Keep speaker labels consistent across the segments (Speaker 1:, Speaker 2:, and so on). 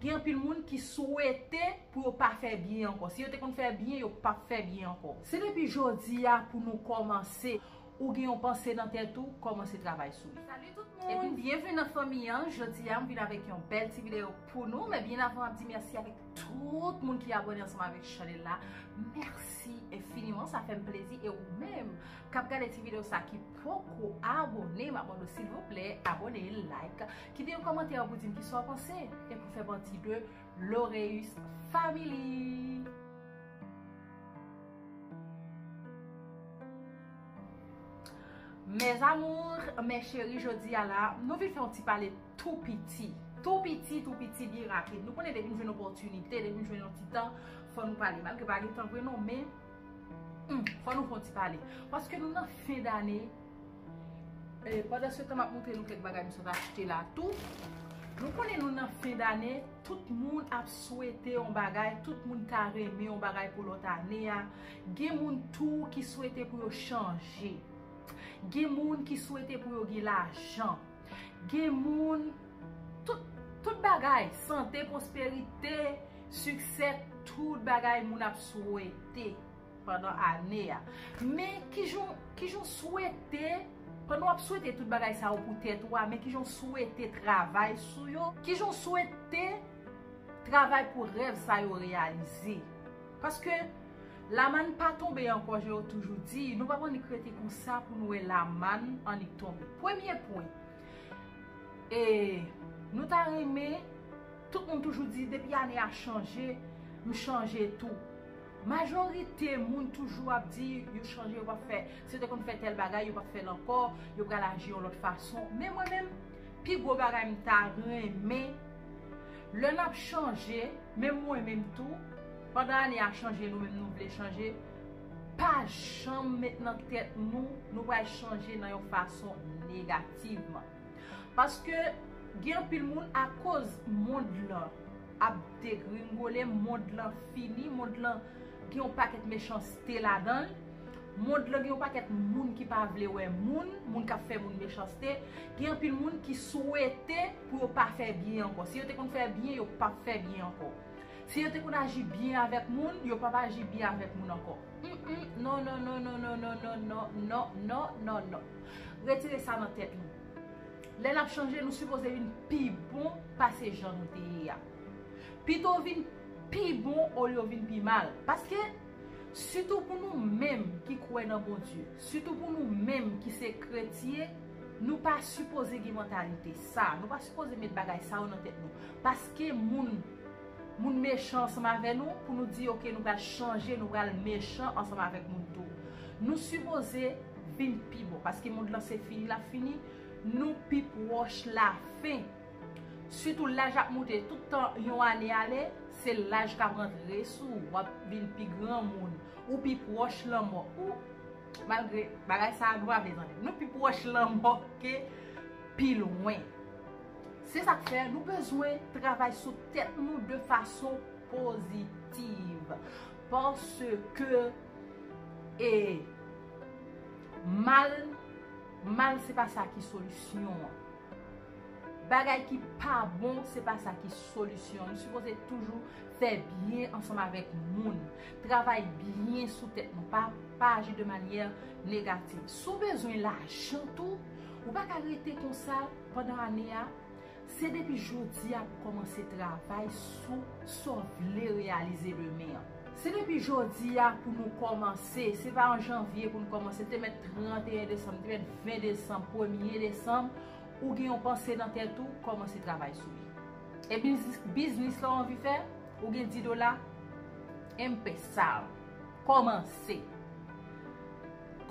Speaker 1: Gen anpil moun ki swete pou yo pa fè byen ankò. Si yo te konn fè byen, yo pap fè byen ankò. Se depi jodi a pou nou kòmanse. Ou gen yon panse nan tèt ou, kòmanse travay sou li. Salut tout moun, byenvni nan fanmi an, jodi a m vin avèk yon bèl ti videyo pou nou, men byen avan map di mèsi avèk tout moun ki abòne ansanm avèk chanèl la, mèsi enfiniman sa fèm plezi e ou menm kap gade ti videyo sa ki poko abòne map mande w silvouplè abòne, like. Kite yon kòmantè pou dim kisa w panse e pou fè pati de Loreus Family! Mes amours, mes cheris jodi a la nou vin fè yon ti pale tou piti tou piti tou piti byen rapid nou konnen depi nou jwenn opòtinite depi nou jwenn yon ti tan fò nou pale malgre pa gen tan vre non men fò nou fè yon ti pale paske nou nan fen dane Pandan se tan map moutre nou kèk bagay m sot achte la tou Nou konnen nou nan fen dane tout moun ap swete yon bagay tout moun ta renmen yon bagay pou lòt ane a gen moun tou ki swete pou yo chanje gen moun ki swete pou yo gen lajan gen moun tout bagay sante pwosperite siksè tout bagay moun ap swete. pandan ane a. Men kijan w kijan w swete pandan w ap swete tout bagay sa yo pou tèt ou a men kijan w swete travay sou yo kijan w swete travay pou rèv sa yo reyalize paske lamann pa tonbe ankò jan yo toujou di nou pap annik rete konsa pou nou wè lamann annik tonbe premye pwen e nou ta renmen tout moun toujou di depi ane a chanje m chanje tou. Majorite moun toujou ap di yo chanje yo pap fè, si yo te konn fè tèl bagay yo pap fèl ankò, yo pral aji yon lòt fason. Men mwen menm, pi gwo bagay m ta renmen, lè n ap chanje, menm mwen menm tou, pandan ane a chanje nou menm nou vle chanje, pa janm met nan tèt nou, nou pral chanje nan yon fason negativman. Paske gen anpil moun akoz mond lan. ap degringole, mond lan fini, mond lan gen yon pakèt mechanste ladan l, mond lan gen yon pakèt moun ki pa vle wè moun, moun k ap fè moun mechanste, gen anpil moun ki swete pou yo pa fè byen ankò. Si yo te konn fè byen, yo p ap fè byen ankò. Si yo te konn aji byen avèk moun, yo p ap aji byen avèk moun ankò. Humm non non non non non non non non non non non non non. Retire sa nan tèt nou. Lè n ap chanje, nou sipoze vin pi bon pase jan nou te ye a. Pito vin pi bon olye w vin pi mal. Paske, sitou pou nou menm ki kwè nan Bondye, sitou pou nou menm ki se kretye, nou pa sipoze gen mantalite sa a. Nou pa sipoze met bagay sa yo nan tèt nou. Paske moun moun mechan ansanm avè nou, pou nou di ok nou pral chanje, nou pral mechan ansanm avèk moun tou. Nou sipoze vin pi bon. Paske mond lan se fini l ap fini. Nou pi pwòch lafen. Sitou laj ap moute, tout tan yon ane ale, se laj k ap antre sou ou, w ap vin pi granmoun, ou pi pwòch lanmò. Ooh! Malgre, bagay sa a grave tande. Nou pi pwòch lanmò ke pi lwen. Se sa k fè, nou bezwen travay sou tèt nou de fason pozitiv. Paske, e. Mal Mal se pa sa ki solisyon an. Bagay ki pa bon se pa sa ki solisyon an. Nou sipoze toujou fè byen ansanm avèk moun. Travay byen sou tèt nou. Pa pa aji de manyè negativ. Si w bezwen lajan tou, ou pa ka rete konsa pandan ane a. Se depi jodi a pou kòmanse travay sou sa w vle reyalize demen an. Se depi jodi a pou nou kòmanse, se pa an janvye pou n kòmanse, te mèt 31 desanm, te mèt 20 desanm, premye desanm, ou gen yon panse nan tèt ou, kòmanse travay sou li. E biznis la w anvi fè, ou gen 10 dola, empesa l, kòmanse.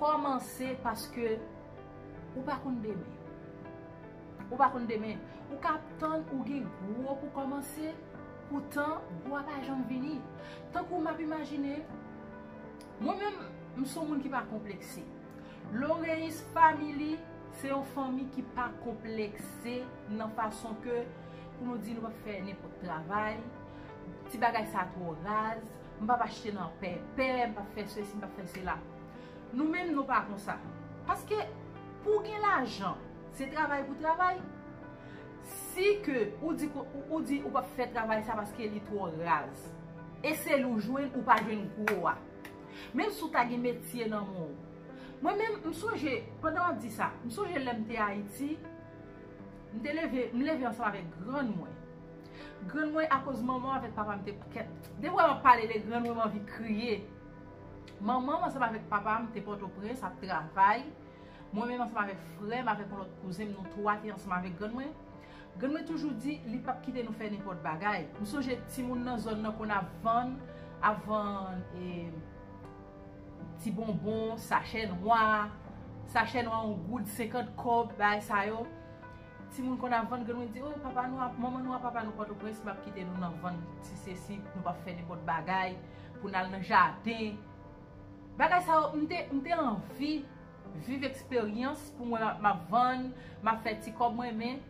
Speaker 1: Kòmanse paske ou pa konn demen. Ou pa konn demen. Ou ka ap tann ou gen gwo pou kòmanse, poutan gwo a pa janm vini. Tankou m ap imajine, mwen menm, m son moun ki pa konplekse. Loreis Family se yon fanmi ki pa konplekse nan fason ke pou nou di nou pa fè nenpòt travay, ti bagay sa twò raz, m p ap achte nan pèpè, m p ap fè sesi, m p ap fè sela. Nou menm nou pa konsa. Paske pou w gen lajan, Se travay pou travay. Si ke ou di ou di ou pap fè travay sa paske li twò raz. E sel ou jwenn ou pa jwenn gwo a. Menm si ou ta gen metye nan men w. Mwen menm m sonje pandan wap di sa. M sonje lèm te ayiti. M te leve m leve ansanm avèk grann mwen. Grann mwen akoz manman avèk papa m te kèt. Depi wè map pale de grann mwen m anvi kriye. Manman m ansanm avèk papa m te pòtoprens ap travay. Mwen menm ansanm avèk frè m avèk yon lòt kouzen m nou twa te ansanm avèk grann mwen. Grann mwen toujou di li pap kite nou fè nenpòt bagay. M sonje timoun nan zòn nan konn ap vann ap vann e ti bonbon, sachè nwa, sachè nwa yon goud, senkant kòb, bagay sa yo. Timoun konn ap vann grann mwen di o papa nou a manman nou a papa nou pòtoprens pap kite nou nan vann ti sesi nou pap fè nenpòt bagay pou n al nan jaden. Bagay sa yo m te anvi. Viv eksperyans pou mwen map vann map fè ti kòb mwen men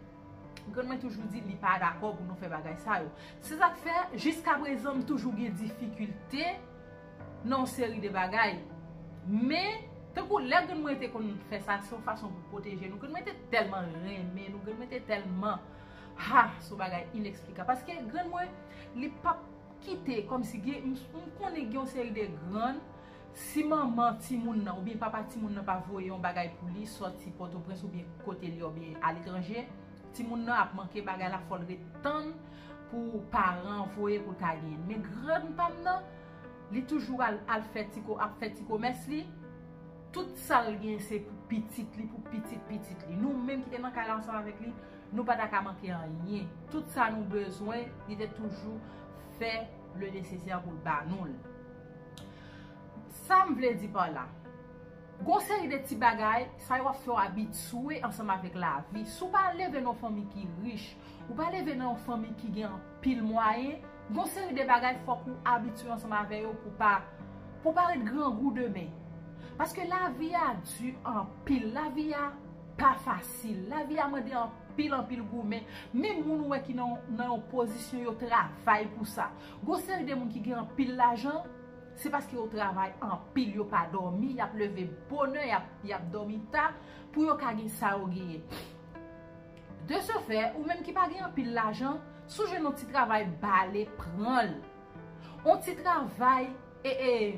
Speaker 1: grann mwen toujou di li pa dakò pou nou fè bagay sa yo se sak fè jiska prezan m toujou gen difikilte nan yon seri de bagay men tankou lè grann mwen te konn fè sa se yon fason pou pwoteje nou grann mwen te tèlman renmen nou grann mwen te tèlman ha se yon bagay ineksplikab paske grann mwen li pap kite kòmsi gen m konnen gen yon seri de grann Si manman timoun nan oubyen papa timoun nan pa voye yon bagay pou li sòti Pòtoprens oubyen kote l ye oubyen aletranje, timoun nan ap manke bagay la fò l ret tann pou paran an voye pou l ka genyen. Men grannpa m nan, li toujou al al fè ti ko ap fè ti komès li, tout sa l gen se pou pitit li, pou pitit pitit li. Nou menm ki te nan kay la ansanm avèk li, nou pa ta ka manke anyen. Tout sa nou bezwen, li te toujou fè le nesesè pou l ba nou l. Sa m vle di pa la, gon seri de ti bagay, sa yo ap fè w abitye ansanm avèk lavi. Si w pa leve nan yon fanmi ki rich, ou pa leve nan yon fanmi ki gen anpil mwayen, gon seri de bagay fòk ou abitye ansanm avè yo pou w pa ret grangou demen. Paske lavi a di anpil, lavi a pa fasil, lavi a mande anpil anpil goumen. Menm moun ou wè ki nan yon pozisyon yo travay pou sa. Gon seri de moun ki gen anpil lajan se paske yo travay anpil yo pa dòmi yap leve bonè yap dòmi ta pou yo ka gen sa yo genyen de se fè ou menm ki pa gen anpil lajan sou jwenn yon ti travay bale pranl yon ti travay ee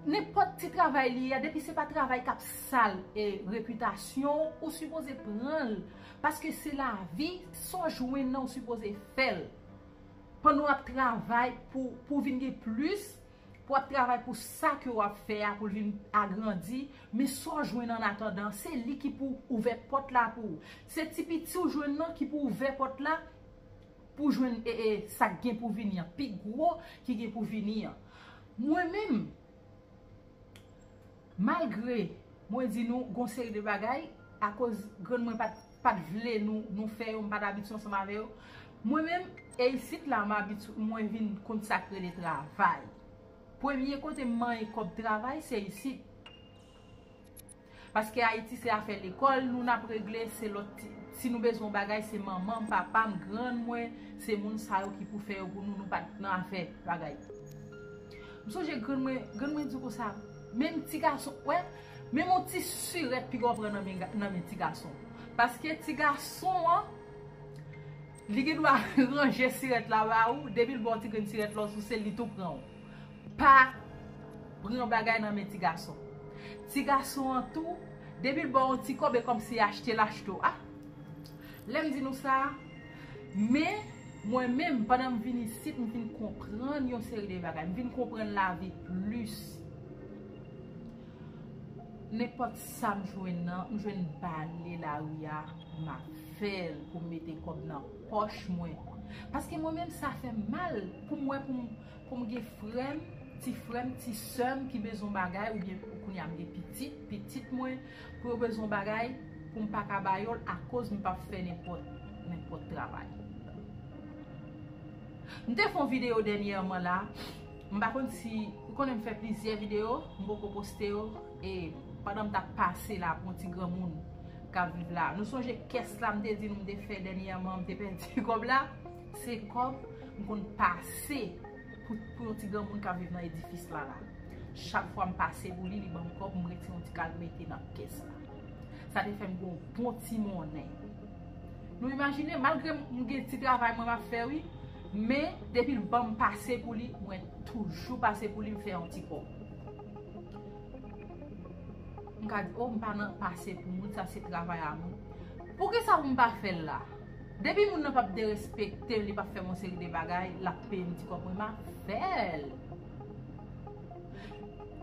Speaker 1: nenpòt ti travay li ye depi se pa travay kap sal repitasyon ou ou sipoze pranl paske se lavi sa w jwenn nan ou sipoze fèl. Pandan w ap travay pou ou vin gen plis, pou w ap travay pou sa ke w ap fè a pou l vin agrandi, men sa w jwenn annatandan, se li ki pou ouvè pòt la pou ou. Se ti piti w jwenn nan ki pou ouvè pòt la pou w jwenn sa k gen pou vini an, pi gwo ki gen pou vini an. Mwen menm. Malgre mwen di nou gon seri de bagay akoz grann mwen pat pat vle nou fè yo m pat abitye ansanm avè yo mwen menm e isit la m abitye mwen vin konn sak rele travay premye kote m manyen kòb travay se isit paske ayiti se afè lekòl nou nap regle se lòt si nou bezwen yon bagay se manman m papa m grann mwen se moun sa yo ki pou fè yo pou nou nou pat nan afè bagay. M sonje grann mwen, grann mwen di konsa, menm ti gason, wè, menm yon ti sirèt piga w pran nan men, nan men ti gason. Paske ti gason an, li gen dwa ranje sirèt la ba ou, depi l ba w ti grenn sirèt la w souse l, li tou pran w. Pa pran bagay nan men ti gason. Ti gason an tou, depi l ba w yon ti kòb e kòmsi achte l achte w. A! Lè m di nou sa a. Men, mwen menm, pandan m vin isit, m vin konprann yon seri de bagay. M vin konprann lavi plis. Nenpòt sa m jwenn nan, m jwenn bale lari a, m ap fè l pou m mete kòb nan pòch mwen. Paske mwen menm sa fè m mal pou m wè pou m gen frè m, ti frè m, ti sè m ki bezwen bagay oubyen kounye a m gen pitit, pitit mwen. Pou yo bezwen yon bagay pou m pa ka ba yo l akoz m p ap fè nenpòt travay. M te fè yon videyo dènyèman la, m pa konn si, ou konnen m fè plizyè videyo, m poko poste yo, e pandan m t ap pase la pou yon ti granmoun k ap viv la. Nou sonje kès la m te di nou m te fè dènyèman, m te pèdi kòb la? Se kòb m konn pase. Pou yon ti granmoun kap viv nan edifis la la. Chak fwa m pase pou li, li banm kòb, m retire yon ti kal m mete nan kès la. Sa te fè m gen yon bon ti monnen. Nou imajine, malgre m gen ti travay mwen map fè wi, men depi l banm pase pou li, mwen toujou pase pou li m fè yon ti kòb. M ka di, oh m pa nan pase pou moun, sa se travay a mwen. Poukisa pou m pa fè l la? Depi moun nan pap derespektew li pap fè yon seri de bagay lap peyem ti kòb mwen ma fèl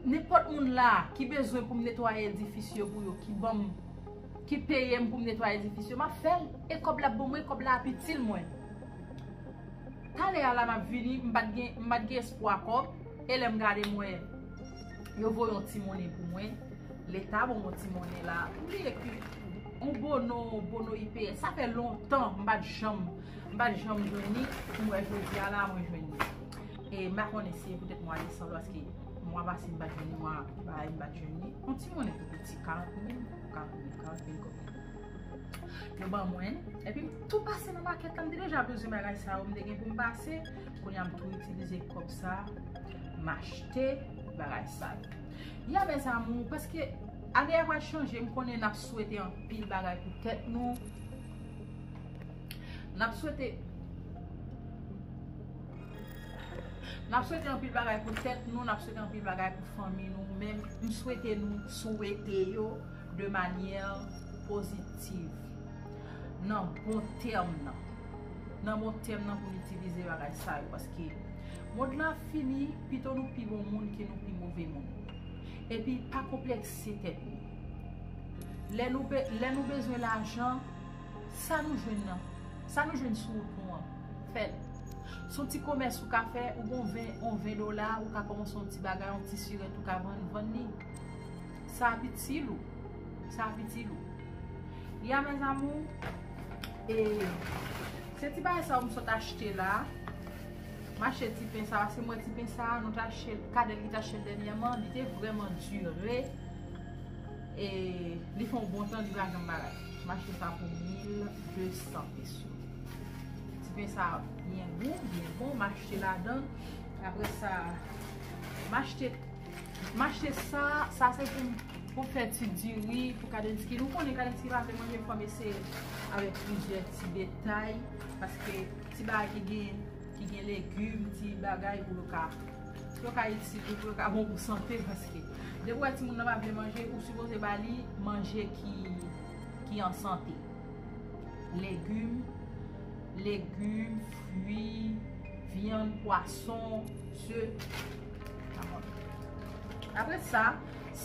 Speaker 1: nenpòt moun la ki bezwen poum netwaye edifis yo pou yo ki banm ki peyem poum netwaye edifis yo map fèl e kòb la bon mwen kòb la ap itil mwen talè a la map vini m pat gen m pat gen espwa kòb e lèm gade m wè yo voye yon ti monnen pou mwen leta banm yon ti monnen la m bliye ki On bono bono IPS sa fè lontan m pat janm m pat janm jwenn li m wè jodi a la mwen jwenn li e m pa konnen si e poutèt mwa desanm paske mwa pase m pat jwenn li mwa sa m pat jwenn li on ti monnen tou piti 40 mil 40 mil 40 mil goud yo ban mwen epi m tou pase nan makèt la m te deja bezwen bagay sa yo m te gen pou m pase kounye a m tou itilize kòb sa m achte bagay sa yo ya mèzamou paske Ane a pral chanje m konnen nap swete anpil bagay pou tèt nou nap swete nap swete anpil bagay pou tèt nou nap swete anpil bagay pou fanmi nou men m swete nou swete yo de manyè pozitiv nan bon tèm nan nan bon tèm nan pou n itilize bagay sa yo paske mond lan ap fini pito nou pi bon moun ke nou pi move moun. Epi pa konplekse tèt nou. Lè nou lè nou bezwen lajan, sa nou jwenn nan, sa nou jwenn sou wout nou an, fè l. Se yon ti komès ou ka fè, ou gen yon 20, yon 20 dola, ou ka kòmanse yon ti bagay, yon ti sirèt ou ka vann, vann li. Sa ap itil ou. Sa ap itil ou. Ya mes amours, e se ti bagay sa yo m sot achte la. Mache ti pen sa, se mwen ti pen sa, nou ta chèl, kadèl ki ta chèl dènyèman, li te vrèman dure, e li fè yon bon tan li pa janm bagay. Mache sa pou 1200 peso. Ti pen sa byen gou, byen bon, mache la dan, apre sa, mache, mache sa, sa se pou, pou fè ti diri, pou kadènski, nou konnen kadènski pa vle manje fòm eseye avèk plizyè ti detay, paske. Ti bagay ki gen, ki gen legume, ti bagay pou yo ka, pou yo ka itil nou, pou yo ka bon pou sante paske depi ou wè timoun nan pa vle manje, ou sipoze ba li manje ki, ki an sante. Legume, legume, fwi, vyann, pwason, ze. Apre sa,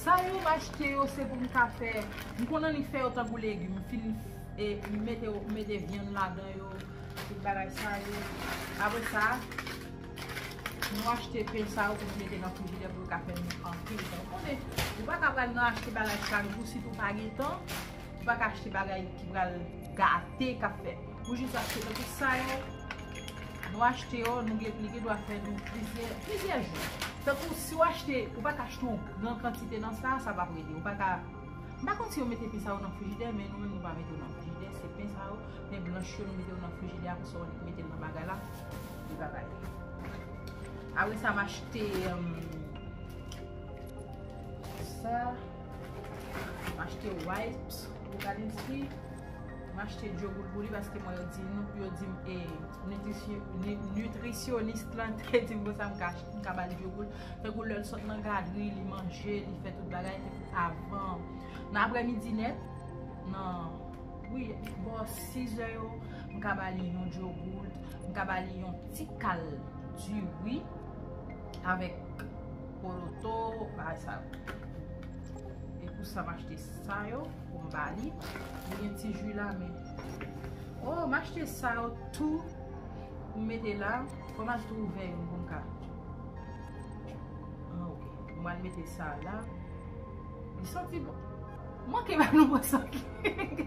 Speaker 1: sa yo m achte yo se pou m ka fè, m konn annik fè yo tankou legume, m fin mete yo, m mete vyann ladan yo. Tout bagay sa yo. Apre sa, nou achte pen sa yo pou nou mete nan frijidè pou yo ka fè nou anpil pen. Ou konnen, ou pa ka pral nan achte bagay chak jou si tou pa gen tan. Ou pa ka achte bagay ki pral gate ka fè. Ou jis achte pen pou sa yo. Nou achte yo, nou gen li gen dwa fè nou plizyè jou. Tan kou si ou achte, ou pa ka achte yon gran kantite nan sa, sa pa prete. Ou pa ka, m pa konn si yo mete pen sa yo nan frijidè men nou menm nou pa mete yo nan frijidè se pen sa yo. Nen blanch yo nou mete yo nan frijidè a konsa ou mete l nan bagay la li va bay. Apre sa m achte sa m achte wipes pou gade si m achte djoboul pou li paske mwen di nou yo di m e nutrisyonist lan te di m konsa m ka m ka ba l djoboul fèk ou lè l sot nan gadri li manje li fè tout bagay avan nan aprè midi nèt nan Wi, bò 6 è yo, m ka ba li yon dyogout, m ka ba li yon ti kal diri avèk poloto, bagay sa yo. E pou sa m achte sa yo pou m ba li. Li gen ti ji la men. O, m achte sa yo tou pou m mete la. Fò m al twouve yon pou m ka. An ok, m al mete sa la. Li santi bon. Manke ba nou pran sant li.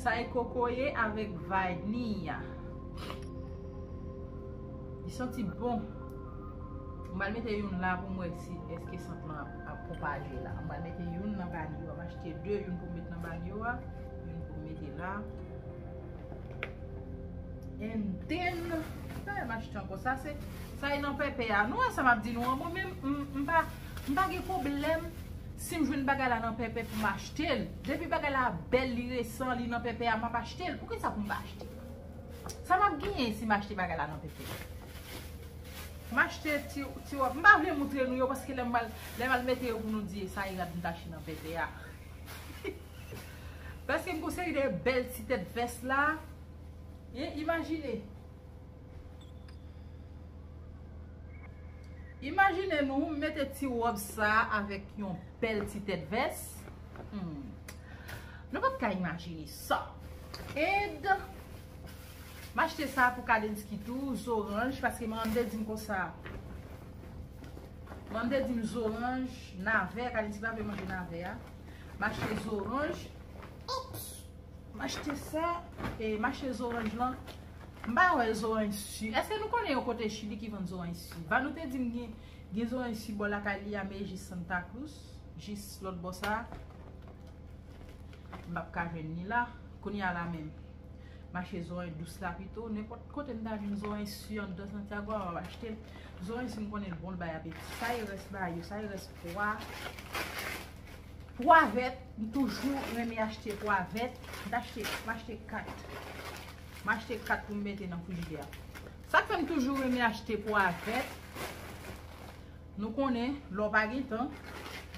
Speaker 1: Sa e kokoye avek vaniya. Li santi bon. M bal mete youn la pou m wè si eske sant lan ap pwopaje la. M bal mete youn nan banyo a. M achte 2 youn pou m met nan banyo a. Youn pou m mete la. And then. Sa e m achte anko. Sa e nan pepe a. Nou wè sa m ap di nou an. Mwen menm m pa. M pa gen pwoblèm si m jwenn bagay la nan pèpè pou m achte l. Depi bagay la bèl, li resan, li nan pèpè a, m ap achte l. Poukisa pou m pa achte? Sa m ap genyen si m achte bagay la nan pèpè? M achte ti wòb. M pa vle moutre nou yo paske lè m al mete yo pou nou di e sa e rad m te achte nan pèpè a. Paske m gen yon seri de bèl ti tèt vès la. Imajine! Imajine nou mete ti wòb sa avèk yon bèl ti tèt vès. Nou pap ka imajine sa. And, m achte sa pou Kadensky tou, zoranj, paske Mandé di m konsa. Mandé di m zoranj, navè, Kadensky pa vle manje navè a. M achte zoranj. Ops! M achte sa, e m achte zoranj lan. M pa wè zoranj si. Eske nou konnen yon kote chili ki vann zoranj si? Vanou te di m gen gen zoranj si bò lakay li a me jis Santa Cruz, jis lòt bò sa a m pap ka jwenn ni la. Kounye a la menm mache zoranj dous la pito. Nenpòt kote m ta jwenn zoranj si anndan Santiago a m ap achte l. Zoranj si m konnen l bon l bay apeti. Sa e rès ba yo, sa e rès pwa. Pwa vèt, m toujou renmen achte pwa vèt. M ta achte, m achte 4. M achte 4 pou m mete nan frijidè a. Sa k fè m toujou renmen achte pwa vèt. Nou konnen, lè w pa gen tan,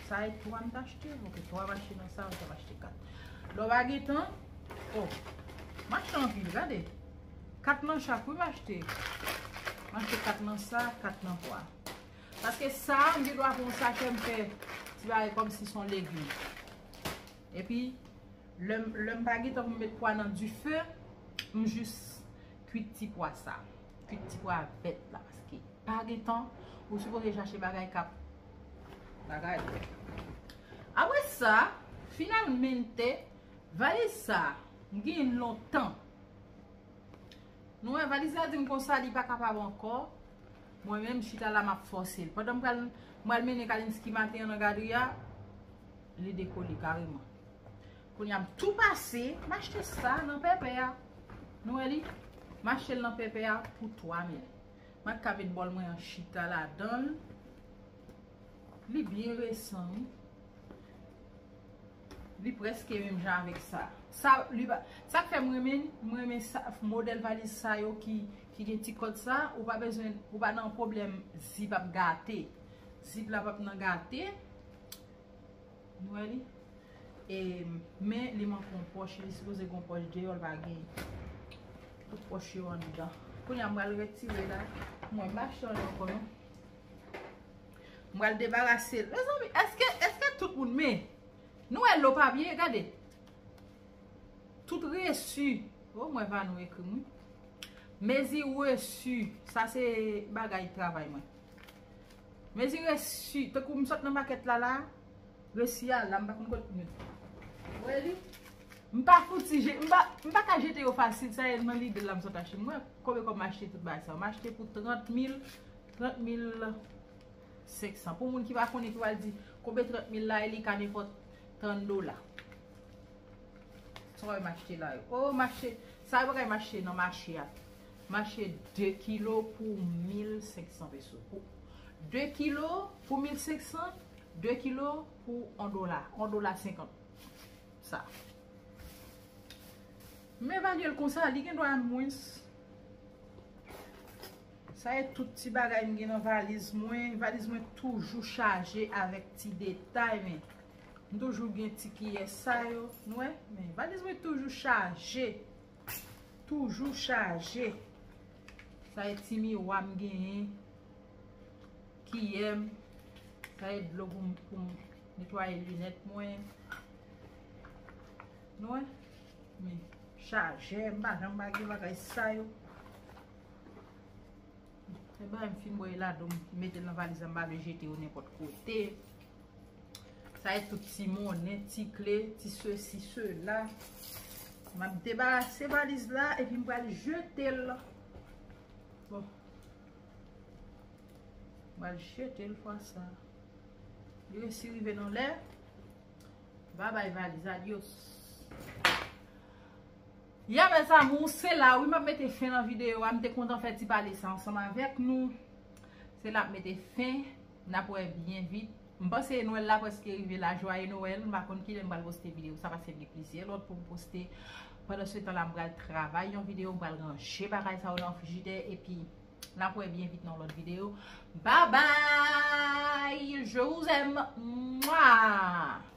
Speaker 1: sa e 3 m t achte. Ok, 3 m achte nan sa, sa m achte 4. Lè w pa gen tan, o, m achte anpil, gade. 4 nan chak wi m achte. M achte 4 nan sa, 4 nan pwa. Paske sa, m gen dwa pran yon sachè m fè ti bagay kòmsi son legim. Epi lèm lèm pa gentan pou m met pwa nan dife m jis kwit ti pwa sa kwit ti pwa vèt la paske pa gentan ou sipoze chache bagay kap bagay apre sa finalmente valiz sa m genyen l lontan nou wè valiz la dim konsa li pa kapab ankò mwen menm m chita la map fòse l pandan m pral m pral mennen kalinski maten an nan gadri a. Li dekole kareman. Kounye a m tou pase. M achte sa nan pèpè a. Nou wè li? M achte l nan pèpè a pou 3000. M ak ka met bòl mwen an chita ladan l. Li byen resan wi. Li preske menm jan avèk sa. Sa k fè m renmen li, m renmen modèl valiz sa yo ki gen ti kòd sa. Ou pa bezwen, ou pa nan pwoblèm zip ap gate. Zip la p ap nan gate. Nou wè li? E men li manke yon pòch. Li sipoze gen yon pòch deyò, li pa gen. Tout pòch yo anndan. Kounye a m pral retire la. Mwen m pa chita li ankò non. M pral debarase l. Mezanmi, èske, èske tout moun men? Nou wè lò pa byen? Gade. Tout resu. O, m wè Vanou ekri m wi. Mezi resu. Sa se bagay travay mwen. Mezi resi, tankou m sot nan makèt la la, resi a la, m pa konn kot m mete. Ou wè li? M pa fouti je, m pa, m pa ka jete yo fasil, sa e nan lide la m sot achte. M wè konbe kòb m achte tout bagay sa yo. M achte pou 30 mil, 30 mil 500. Pou moun ki pa konnen ki pral di, konbe 30 mil la e li ka nenpòt 30 dola. Sa wè m achte la yo. O, m achte, sa e bagay m achte nan mache a. Mache 2 kilo pou 1500 peso pou 2 kilo pou 1500 2 kilo pou 1 dola 1 dola 50 sa m evalye l konsa li gendwa mwens sa e tout ti bagay m gen nan valiz mwen valiz mwen toujou chaje avèk ti detay men m toujou gen ti kiyè sa yo n wè valiz mwen toujou chaje. Toujou chaje. Sa e ti miwa m genyen. Kiyè m. Sa e dlo pou m netwaye linèt mwen. Nou wè? Men, chajè. M pa janm bagay bagay sa yo. Ebyen, m fin bwè yo ladan m mete nan valiz la m pa vle jete yo nenpòt kote. Sa e tout ti monnen, ti kle, ti sesi, sela. Map debarase valiz la epi m pral jete l. Bon. M pral jete l fwa sa. Li resi rive nan lè. Ba bay valiz la. Adios. Ya mè zamou, se la ou map mete fen nan videyo. Am te kontan fè ti pale sa ansanm avèk nou. Se la ap mete fen. Nap wè byen vit. M panse Noël la preske rive la Joyeux Noël m pa konn kilè m pral poste video sa paske m gen plizyè lòt poum poste pandan se tan la m pral travay yon video m pral ranje bagay sa yo nan frijidè epi nap wè byen vit nan yon lòt video babay je vous aime mwaa.